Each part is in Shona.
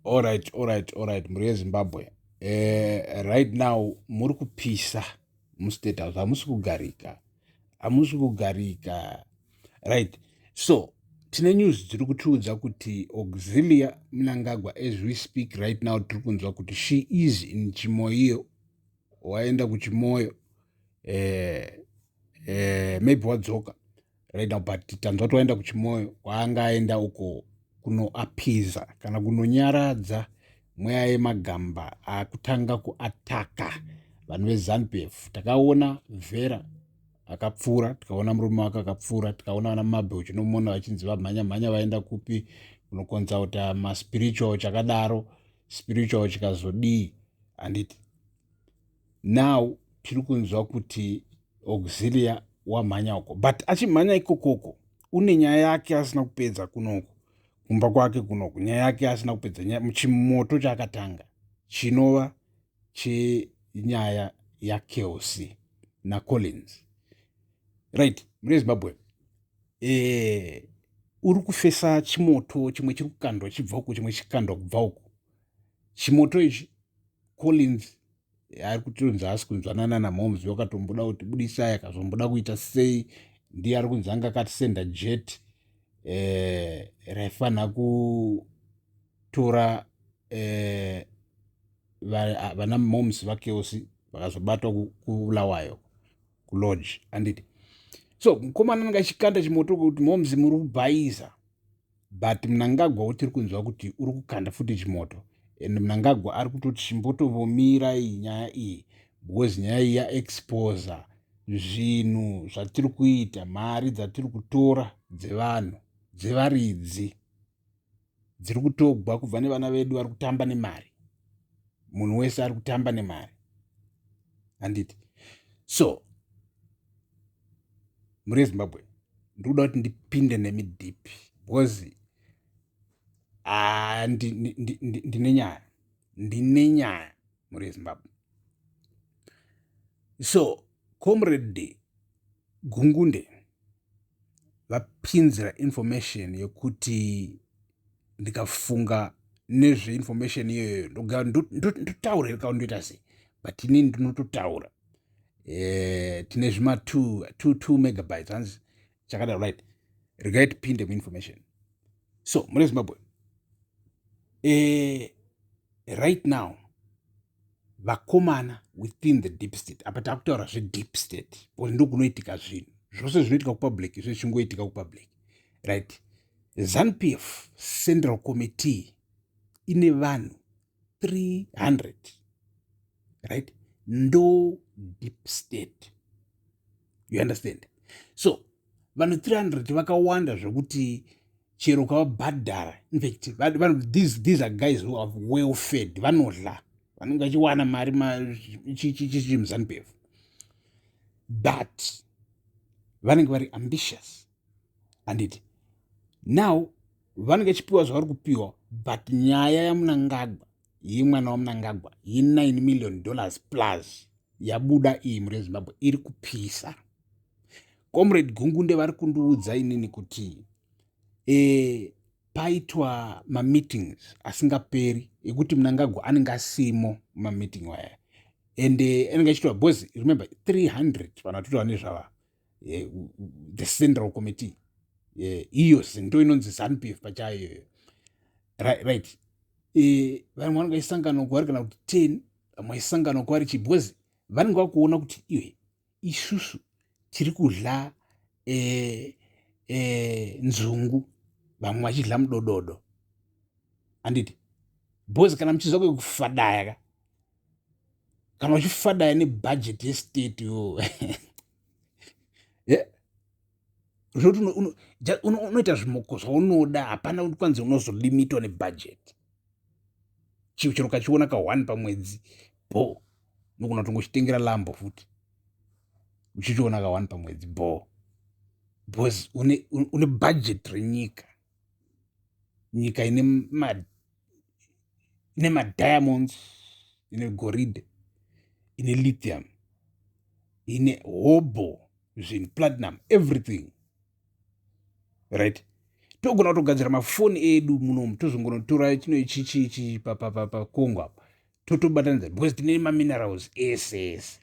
Alright, alright, alright, mhuri yeZimbabwe. Eh, right now muri kupisa mustate house, hamusi kugarika, hamusi kugarika. Right, so tine news dziri kutiudza kuti Auxilia Mnangagwa, as we speak right now, tiri kunzwa kuti she is in Chimoio, waenda kuChimoio, eh, eh, maybe wadzoka right now but tanzwa kuti waenda kuchimoyo kwaanga aenda uko kunoapiza kana kunonyaradza mweya yemagamba akutanga kuataka vanhu vezanupf takaona vera akapfuura tikaona murume wake akapfuura tikaona vana mabhe uchinomona vachinzi vamhanya mhanya vaenda kupi unokonzauta maspiritual chakadaro spiritual chikazodii handiti now tiri kunzwa kuti auxilia wamhanya uko but achimhanya ikokoko une nyaya yake asina kupedza kunoku kumba kwake kunoku nyaya yake asina kupedza muchimoto chaakatanga chinova chenyaya yakeosi nacollins right mune zimbabwe e, uri kufesa chimoto chimwe chiri kukandwa chibva uku chimwe chikandwa kubva uku chimoto ichi collins ari kutonzi haasi kunzwanana namoms vakatomboda kuti budisai akazomboda kuita sei ndiye ari kunzi anga akatisenda jet eh, raifanira kutora eh, vana moms vakeosi vakazobatwa kubulawayo kulodge anditi so mukomana anga achikanda chimoto kuti moms muri kubhaiza but mnangagwa wotiri kunzwa kuti uri kukanda futi chimoto and mnangagwa ari kutoti chimbotovomira iyi nyaya iyi because nyaya iyi yaexposa zvinhu zvatiri kuita mari dzatiri kutora dzevanhu dzevaridzi dziri kutogwa kubva nevana vedu vari kutamba nemari munhu wese ari kutamba nemari handiti so muri zimbabwe ndikuda kuti ndipinde nemi deep because ah, ndine nyaya ndine nyaya muri zimbabwe so comrade gungunde vapinzira information yekuti ndikafunga nezve information iyoyo ndoga ndotaura iri kaundoita sei but ini ndinototaura eh, tine zvima 22 megabytes hanzi chakadaro right regai tipinde muinformation so mune zimbabwe eh, right now vakomana within the deep state apa takutaura zvedeep state bcause ndokunoitika zvinhu zvose zvinoitika kupublic zvichingoitika kupublic right ZanuPF Central Committee ine vanhu 300 right ndo deep state you understand so vanhu 300 vakawanda zvekuti chero kavabhadhara infact these, these are guys who have well fed vanodla vanenge vachiwana mari chichimuzanupf but vanenge vari ambitious handiti now vanenge chipiwa zvavari kupiwa but nyaya yamunangagwa yemwana wamunangagwa ye9 million dollars plus yabuda iyi mhuri yezimbabwe iri kupisa comrade gungunde vari kundiudza inini kuti e, paitwa mameetings asingaperi ekuti munangagwa anenge asimo mameeting waya ende anenge achitwa bcause remember 300 vanhu vatotova nezvava eh, the central committee eh, iyo zinto inonzi zanp f pachayoyo right eh, vamwe vanenge vaisangana kwavari kana kuti ten vamwe vaisangana kwavari chii because vanenge vakuona kuti iwe isusu tiri kudla eh, eh, nzungu vamwe vachidla mudododo anditi bhozi kana muchiziva kwekufadaya ka kana uchifadaya nebhajeti yestate yo zvoti unoita zvimoko zvaunoda hapana kuti kwanzi unozolimitwa nebhajeti chio chero ukachiona ka one pamwedzi bho nokuna kuti ngochitengera lambo futi uchichiona ka one pamwedzi bho bcause une, une bhajeti renyika nyika ine ine madiamonds ine goridhe ine lithium ine hobho zvinhu platinum everything right togona kutogadzira mafoni edu munomu tozongonotora chino ichichichi pakongo apa totobatanidza because tine maminerals ese ese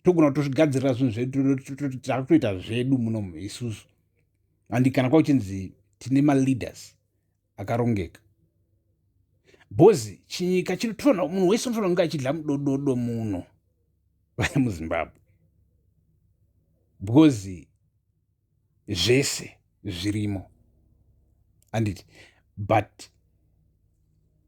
togona kutozvigadzirira zvinhu zvedu takutoita zvedu munomu isusu handi kana kwauchinzi tine maleaders akarongeka bhozi chinyika chinotoona munhu wese unotoona kunge achidla mudododo muno vaya muzimbabwe because zvese zvirimo anditi but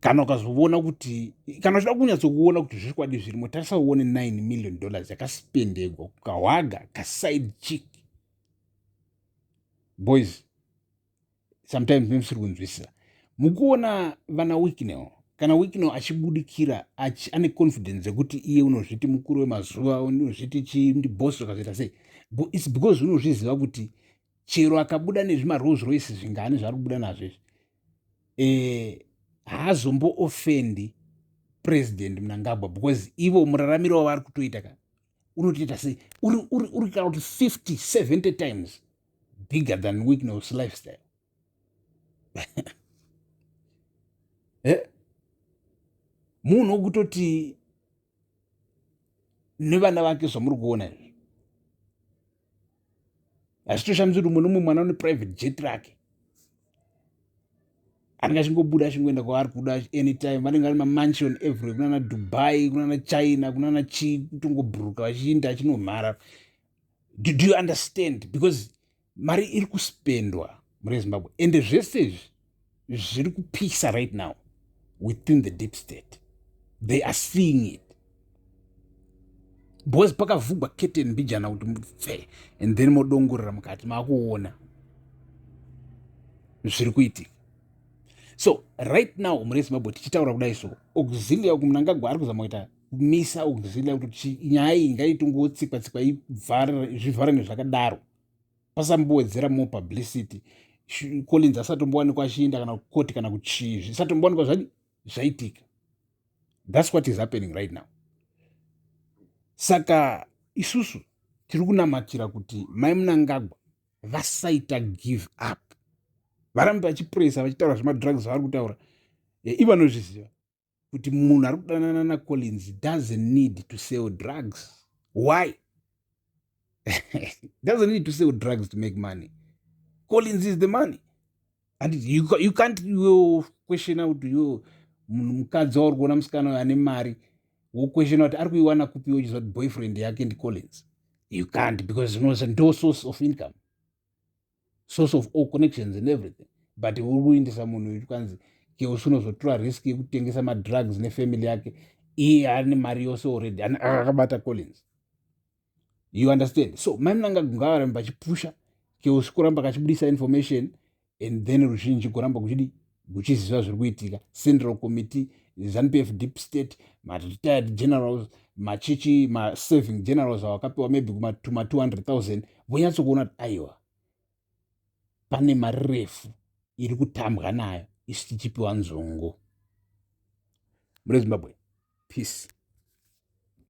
kana ukazovona kuti kana uchida kunyatsokuona kuti zvikwadi zvirimo tarisa uone 9 million dollars yakaspendegwa kukahwaga kaside chick boys sometimes nemusiri kunzwisisa mukuona vana wicknel kana wicknel achibudikira achi, ane confidence yekuti iye unozviti mukuru wemazuva unozviti chindibos zvakazoita sei its because unozviziva kuti chero akabuda nezvimarose royce zvingani zvaari kubuda nazvo izvi e, eh, haazomboofendi president munangagwa because ivo muraramiro wavari kutoita ka unotoita sei uri uri uri kana kuti 50 70 times bigger than weakness lifestyle eh? munhu wokutoti nevana vake zvamuri kuona izvi hazvitoshamisi kuti umwe nomwe mwana une private jet rake anenge achingobuda achingoenda kwaari kuda anytime vanenge vari mamansion every kunana dubai kunana china kunana chii kutongobhuruka vachiinda achinomhara do, do you understand because mari iri kuspendwa mune zimbabwe ende zvese izvi zviri kupisa right now within the deep state they are seeing it because pakavhugwa keten mbijana kuti mupfe and then modongorera mukati makuona zviri kuitika so right now mune zimbabwe tichitaura kudai so auxilia uku munangagwa ari kuzama kuita kumisa auxilia kuti nyaya iyi ngaitongotsikwa tsikwa zvivhare nezvakadaro pasambowedzera more publicity collins asatombowanikwa achienda kana kukoti kana kuchii zvisatombowanikwa zvadi zvaitika thats what is happening right now saka isusu tiri kunamatira kuti mai munangagwa vasaita give up varambe vachipuresa vachitaura zvemadrugs vavari kutaura ivanozviziva kuti munhu ari kudanana nacollins doesn't need to sell drugs why doesn't need to sell drugs to make money collins is the money and you, you can't you question out you munhu mukadzi wauri kuona musikana uyo ane mari woquestiona kuti ari kuiwana kupiwo chiziva kuti boyfriend yake ndicollins you can't because unosa ndo source of income source of all connections and everything but uri kuindisa munhu uyu kwanzi ke usunozotora risk yekutengesa madrugs nefamily yake iye ane mari yose already akabata collins you understand so mai munanga gungavarambe vachipusha ke usikuramba kachibudisa information and then ruzhinji kuramba kuchidii kuchiziva zviri kuitika central committee zanu pf deep state maretired generals machichi masaving generals awakapiwa maybe kuma 200 000 vonyatsokuona kuti aiwa pane mari refu iri kutambwa nayo isu tichipiwa nzungu mune zimbabwe peace